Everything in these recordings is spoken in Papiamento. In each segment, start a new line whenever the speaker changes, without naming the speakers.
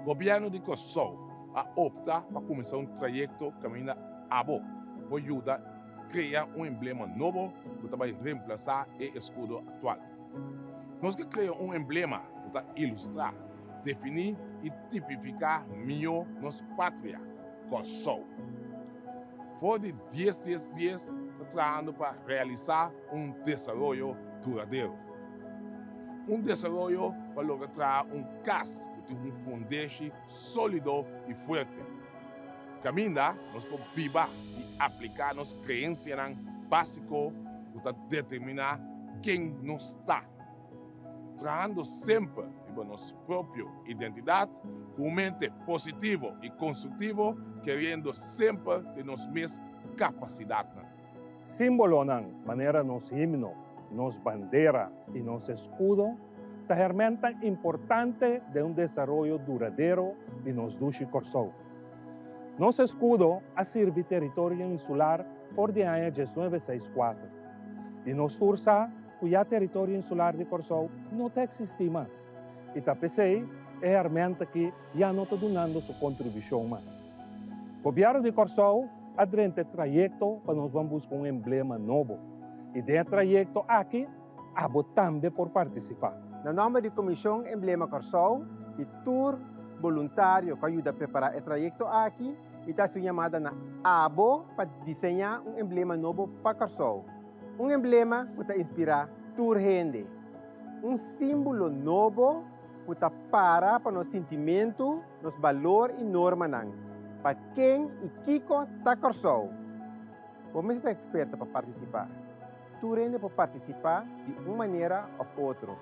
Gobièrnu di Kòrsou a opta pa kuminsá un trayekto kaminda abo por yuda krea un emblema nobo ku ta bai remplasá e eskudo aktual. Nos ke krea un emblema ku ta ilustrá, definí i tipifiká mihó nos patria, Kòrsou. For di dies dies dies ta trahando pa realisá un desaroyo duradero. Un desaroyo pa logra traha un kas ku tin un fundeshi Solido i fuerte. Caminda nos por biba i aplica nos creencianan basico cu ta determina ken nos ta, trahando semper riba nos propio identidad cu un mente positivo i constructivo, creyendo semper den nos mes capacidadnan.
Símbolonan manera nos himno, nos bandera i nos eskudo ta hermentan importante den un desaroyo duradero di nos dushi Kòrsou. Nos eskudo a sirbi teritorio insular for di aña diesnuebe seis kuater i nos tur sa ku ya teritorio insular di Kòrsou no ta eksistí mas i ta p'esei e hermenta ki ya no ta dunando su kontribushon mas. Gobièrnu di Kòrsou a drenta e trayekto pa nos ban buska un emblema nobo i den e trayekto aki abo tambe por partisipá. Na nòmber di
Komishon Emblema Kòrsou i tur boluntario ku a yuda prepará e trayekto aki, mi ta hasi un yamada na abo pa diseñá un emblema nobo pa Kòrsou. Un emblema ku ta inspirá tur hende. Un símbolo nobo ku ta para pa nos sintimentu. Nos balor y normanan pa ken y kiko ta Kòrsou. Bo mester ta eksperto pa partisipá. Tur hende por partisipá di un manera òf otro.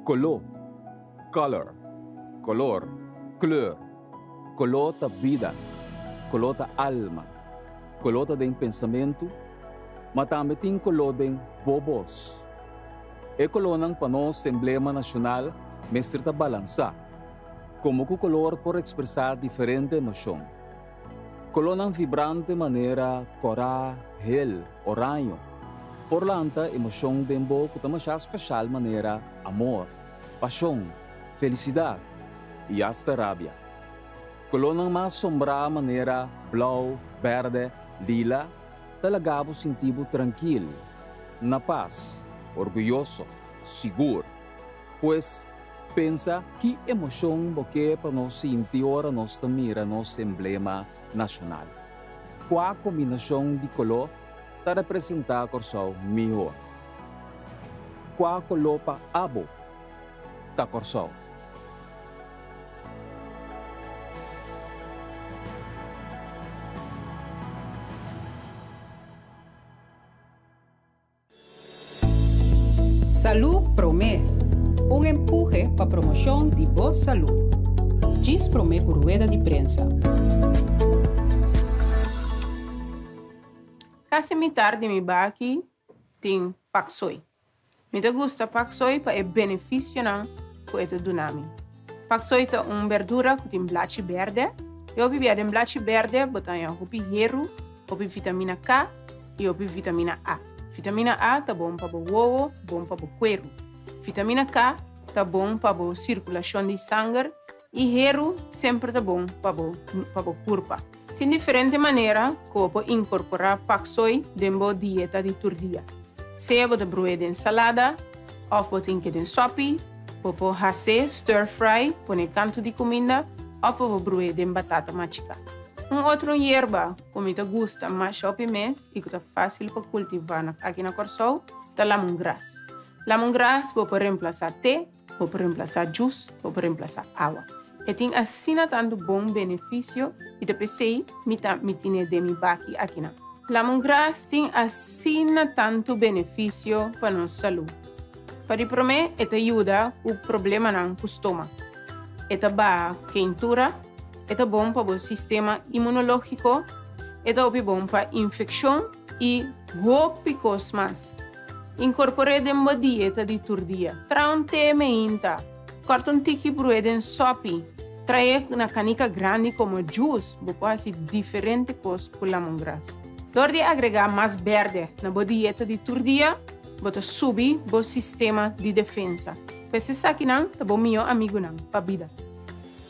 Koló, color, kolor, kleur, Koló ta bida, koló ta alma, koló ta den pensamentu, ma tambe tin koló den bo bos. E kolónan pa nos emblema nashonal mester ta balansá. Komo ku kolor por ekspresá diferente emoshon? Kolornan vibrante manera kòrá, hel, oraño, por lanta emoshon den bo ku ta masha speshal manera amor, pashon, felisidat i asta rabia. Kolornan mas sombrá manera blou, bèrdè, lila ta laga bo sinti bo trankil, na pas, orguyoso, sigur. Pues, pensa ki emocion bo ke pa nos sinti ora nos ta mira nos emblema nacional. Kua combinacion di coló ta representa Corsou miho? Kua coló pa abo ta Corsou?
Salú Promé, Un empuje pa promoshon di bo salú. Djis promé ku rueda di prensa.
Kasi mitar di mi baki tin paksoi. Mi ta gusta paksoi pa e benefisionan ku e ta duna mi. Pak soi ta un berdura ku tin blachi berde. E hopi bia den blachi berde bo ta haña hopi heru, hopi vitamina K i hopi vitamina A. Vitamina A ta bon pa bo wowo, bon pa bo kueru. Vitamina K ta bon pa bo sirkulashon di sanger i heru semper ta bon pa bo pa bo kurpa. Tin diferente manera ku bo por inkorporá pak soi den bo dieta di tur dia. Sea bo ta broe den salada òf bo drinke den sòpi, bo por hase stir fry, pone kantu di kuminda, òf bo por broe den batata machiká. Un otro yerba ku mi ta gusta masha op e mes i ku ta fásil pa kultivá aki na Kòrsou ta lamongras. Lamongras bo por remplasá te, Bo por remplasá jus, bo por remplasá awa. E tin asina tantu bon benefisio i ta p'esei mi ta mi tine den mi baki akinan. Lamongras tin asina tantu benefisio pa nos salú. Pa di promé e ta yuda ku problemanan ku stómak, e ta baha ku keintura, e ta bon pa bo sistema imunológiko, e ta hopi bon pa infekshon i hopi kos mas. Inkorpor'é den bo dieta di tur dia. Traha un té meinta. Kòrta un tiki brué den sòpi. Trahaé na kanika grandi komo jus. Bo por hasi diferente kos ku lamongras. Dor di agregá mas bèrdè na bo dieta di tur dia, bo ta subi bo sistema di defensa. Ku esesaki nan ta bo mihó amigunan pa bida.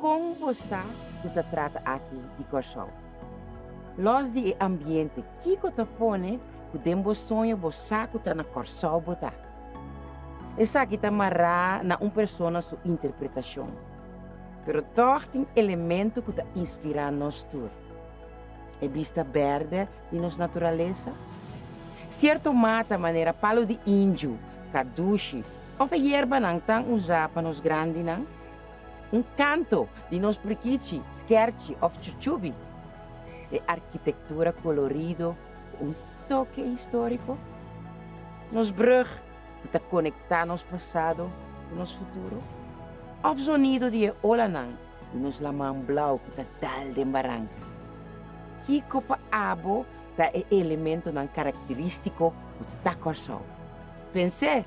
Kon bo sa ku ta trata aki di Kòrsou? Lòs di e ambiente, kiko ta pone ku den bo soño bo sa ku ta na Kòrsou bo ta? Esaki ta mará na un persona su interpretashon, pero tòg tin elemento ku ta inspirá nos tur, e bista bèrdè di nos naturalesa, sierto mata manera palu di inju, kadushi òf e yerbanan tan usá pa nos grandinan. Un kanto di nos prikichi, skèrchi òf chuchubi. E arkitektura kolorido ku un toke históriko. Nos brùg ku ta konektá nos pasado ku nos futuro. Òf zonido di e olanan i nos laman blau ku ta dal den baranka. Kiko pa abo ta e elementonan karakterístiko ku ta Kòrsou? Pens'é!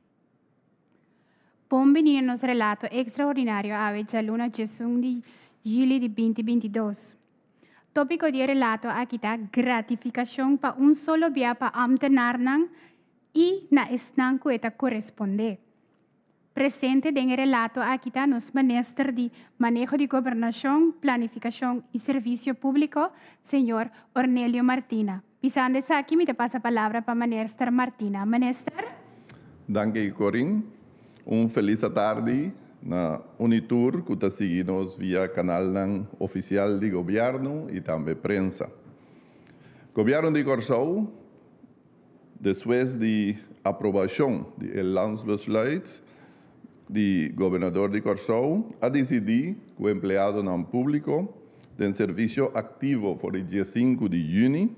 Bon bini na nos relato ekstraordinario awe djaluna djesun di yuli di binti binti dos. Tópiko di e relato aki ta gratifikashon pa un solo bia pa ámtenarnan i na esnan ku e ta korespondé. Presente den e relato aki ta nos Minister di Maneho di Gobernashon, Planifikashon i Servisio Públiko, señor Ornelio Martina. Pisando esaki mi ta pasa palabra pa Manester Martina. Manester. Danki
Corin. Un felis atardi na Unitur cu ta sigui nos via canalnan oficial di Gobierno y tambe prensa. Gobierno di Corsou despues di aprobacion di e Landsbesluit, di Gobernador di Kòrsou a disidí ku empleadonan públiko den servisio aktivo for di die sinku di yüni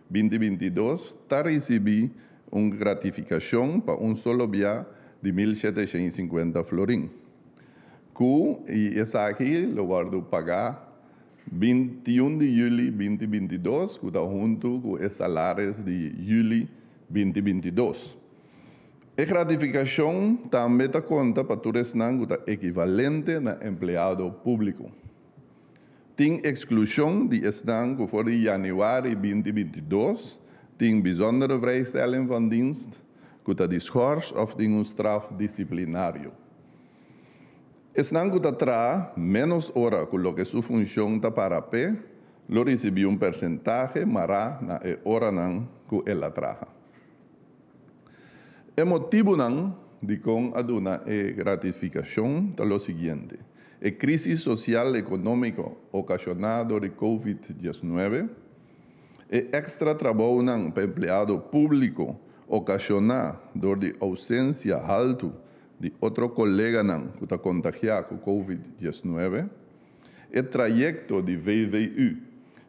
binti binti dos ta risibí un gratifikashon pa un solo bia di mil shete shen i sinkuenta florin ku i esaki lo wòrdu pagá binti i un di yüli binti binti i dos ku ta huntu ku e salaris di yüli binti binti i dos. E gratificacion tambe ta conta pa tur esnan cu ta equivalente na empleado publico. Tin exclusion di esnan cu for di januari binti binti dos tin bijzondere vrijstelling van dienst, cu ta di schors of tin un straf disciplinario. Esnan cu ta traha menos ora cu loke su funcion ta para p'e lo ricibi un percentahe mara na e oranan cu el a traha. E motibunan dikon a duna e ratifikashon ta lo siguiente, e krísis sosial ekonómiko okashoná dor di Covid diesnuebe, e èkstra trabounan pa empleado públiko okashoná dor di ousensia haltu di otro koleganan ku ta kontagiá ku Covid diesnuebe, E trayecto di VVU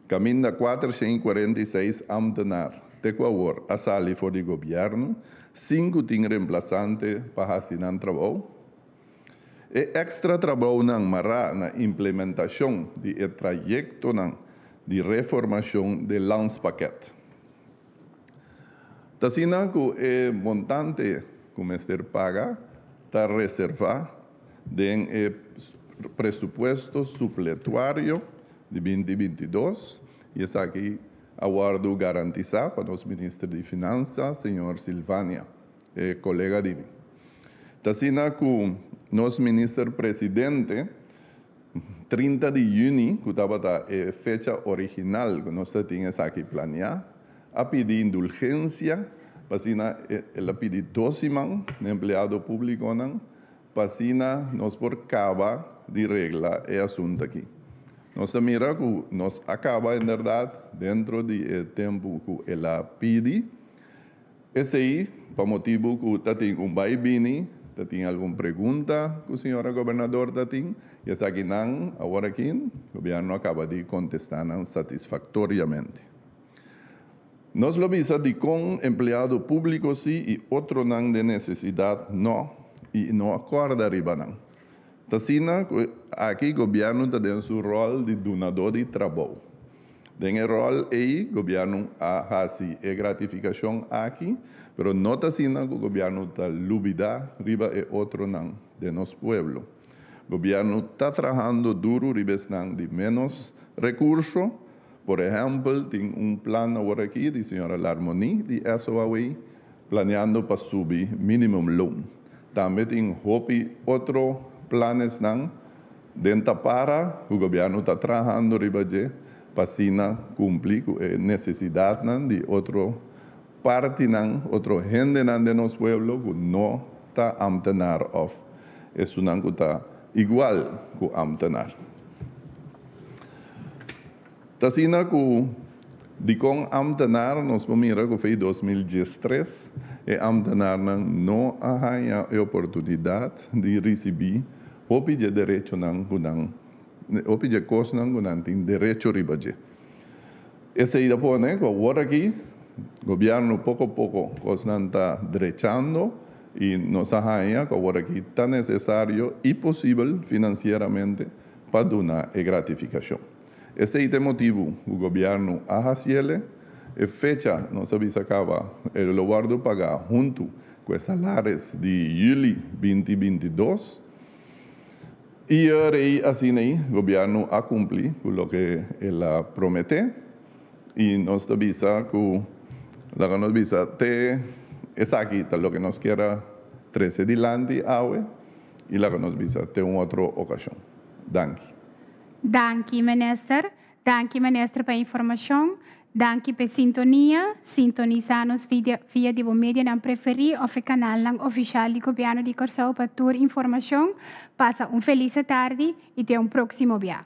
caminda cuatershent y cuarenta y seis ambtenaar te cu awor a sali for di gobierno, cinco tin reemplazante pa haci nan trabao. E extra trabaonan mará na implementacion di e trayectonan di reformacion de Landspakket. Ta asina ku e montante ku mester paga ta reservá den e presupuesto supletuario di binti binti dos i esaki a wòrdu garantisá pa nos Minister di Finansa, señor Silvania, e kolega di mi. Ta asina ku nos Minister Presidente, Trinta di yüni, ku tabata e fecha original ku nos ta tin esaki planeá, a pidi indulgensia pa asina el a pidi dos siman na empleado públikonan pa asina nos por kaba di regla e asunt aki. Nos ta mira ku nos a kaba en bèrdat dentro di e tempu ku el a pidi. Esei pa motibu ku ta tin un bai bini, ta tin algun pregunta ku señora gobernador ta tin, i esaki nan awor aki Gobièrnu a kaba di kontestá nan satisfaktoriamente. Nos lo bisa dikon empleado públiko sí i otronan den nesesidat nò i no a kòrda riba nan. T'asina ku aki Gobièrnu ta den su ròl di dunadó di trabou, Den e ròl ei gobièrnu a hasi e gratifikashon aki, pero no ta asina ku gobièrnu ta lubidá riba e otronan den nos pueblo. Gobièrnu ta trahando duru riba esnan di ménos rekurso. Por ehèmpel, tin un plan awor aki di señora Larmoni di SOAWEI planeando pa subi minimumloon. Tambe tin hopi otro planesnan. Den Tapara ku gobièrnu ta trahando riba dje pa asina kumpli ku e nesesidatnan di otro partinan, otro hendenan den nos pueblo ku no ta ámtenar òf esunnan ku ta igual ku ámtenar. Ta asina ku dikon ámtenar nos por mira ku fei dos mil dies tres e ámtenarnan no a haña e oportunidat di risibí Hopi dje derechonan ku nan, hopi dje kosnan ku nan tin derecho riba dje. Esei ta pone ku awor aki gobièrnu poko a poko kosnan ta drechando i nos a haña ku awor aki ta nesesario i posibel finansieramente pa duna e gratifikashon. Esei ta e motibu ku gobièrnu a hasiel e fecha nos a bisa kaba e lobordo pagá huntu Cu e salares di juli binti binti dos. Y rei asina ei gobierno a cumpli cu loke el a promete. Y nos ta bisa cu laga nos bisa te esaki ta loke nos kier a trece dilanti awe y laga nos bisa te un otro ocasion. Danki. Danki,
Minister. Danki Minister pa informashon. Danki p'e sintonia. Sintonisa nos via via di bo medianan preferí òf e kanalnan ofishal di Gobièrnu di Kòrsou pa tur informashon. Pasa un felise tardi i te un próksimo bia.